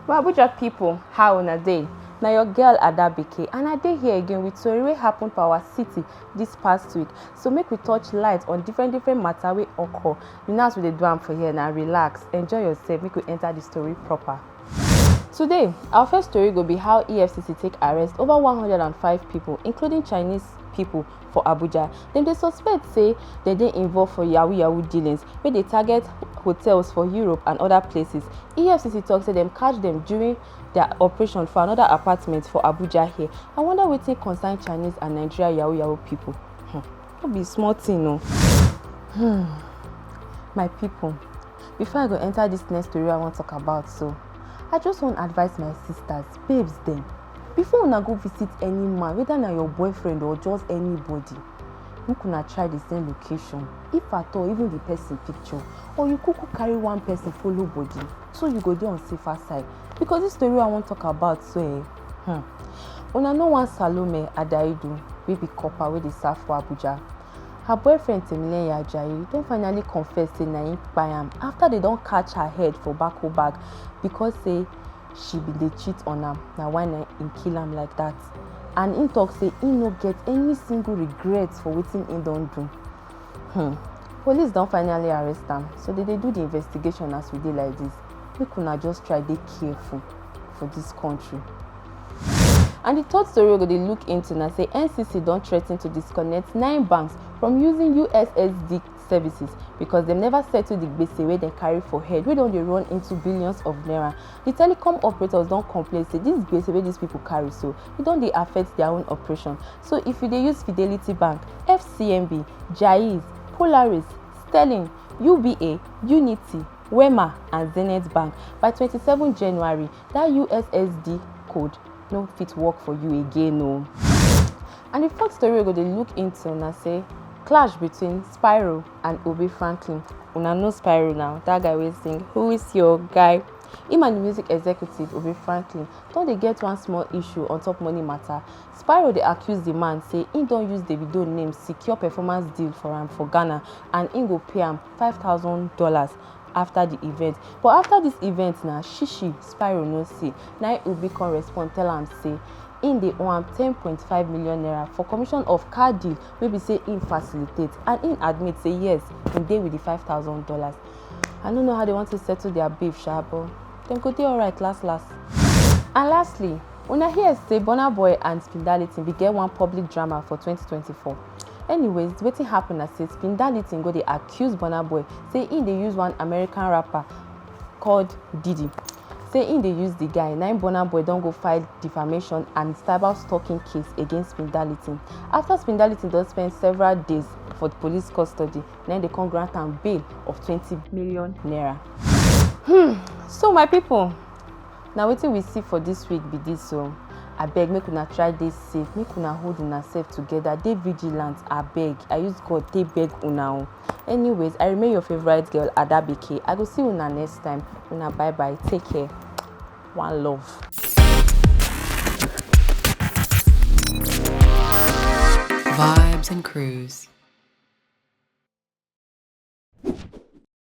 Well, Abuja pipo, how una dey? Na your girl Adabike and I dey here again with tori wey happen for our city dis past week. So make we touch light on different different matter wey occur. You know as we dey do am for here na relax, enjoy yourself make we enter the story proper. Today, our first story go be how EFCC take arrest over 105 people, including Chinese people for Abuja. Dem dey suspect say dem dey involved for yahoo yahoo dealings where they target hotels for Europe and other places. EFCC talks say them catch them during their operation for another apartment for Abuja here. I wonder what they concern Chinese and Nigeria yahoo yahoo people. Hmm. No be small thing no. Hmm. My people, before i go enter this next story i wan talk about so i just wan advise my sisters babes dem before una go visit any man whether na your boyfriend or just anybody make una try the same location if at all even the person picture or you kuku carry one person follow body so you go dey on safer side because this story i wan talk about so eh hmm, una know one salome adaidu wey be copper wey dey serve for abuja Her boyfriend Timileyin Ajayi don finally confess say na him kpai am after they don catch her head for bako bag because say she bin dey cheat on am na why na him kill am like that and him talk say he no get any single regret for wetin he don do. Hmm. Police don finally arrest am so they dey do the investigation as we dey like this make una just try dey careful for this country. And the third story we go dey look into na say NCC don threaten to disconnect nine banks from using USSD services because dem never settle the gbese wey dem carry for head wey don dey run into billions of naira. The telecom operators don complain say this gbese wey these people carry so e don dey affect their own operation. So if you dey use Fidelity Bank, FCMB, Jaiz, Polaris, Sterling, UBA, Unity, Wema and Zenith Bank by 27 January that ussd code no fit work for you again o and the fourth story we go dey look into na say clash between spyro and obi franklin una know spyro now that guy wey sing who is your guy him and the music executive obi franklin don dey get one small issue on top money matter spyro dey accuse the man say he don use davido name secure performance deal for am for ghana and he go pay am five thousand dollars after the event but after this event na shishi spyro no see na obi come respond tell am say im dey owe am 10.5 million naira for commission of car deal wey be say im facilitate and im admit say yes im dey with the 5000 dollars i no know how they want to settle their beef sha but dem go dey alright last last and lastly una hear say burna boy and spindalitin bin get one public drama for 2024 anyways wetin happen na say spindalitin go dey act accuse Burna Boy say he dey use one American rapper called Diddy. Say he dey use the guy, na im Burna Boy don go file defamation and cyber stalking case against Spindality. After Spindality don spend several days for police custody, na im dey come grant am bail of twenty million naira. Hmm, so my people, na wetin we see for dis week be dis o abeg make una try dey safe make una hold una sef together dey vigilant abeg i use god take beg una o anyways i remain your favourite girl adabeke i go see una next time una bye bye take care one love. Vibes and Cruise.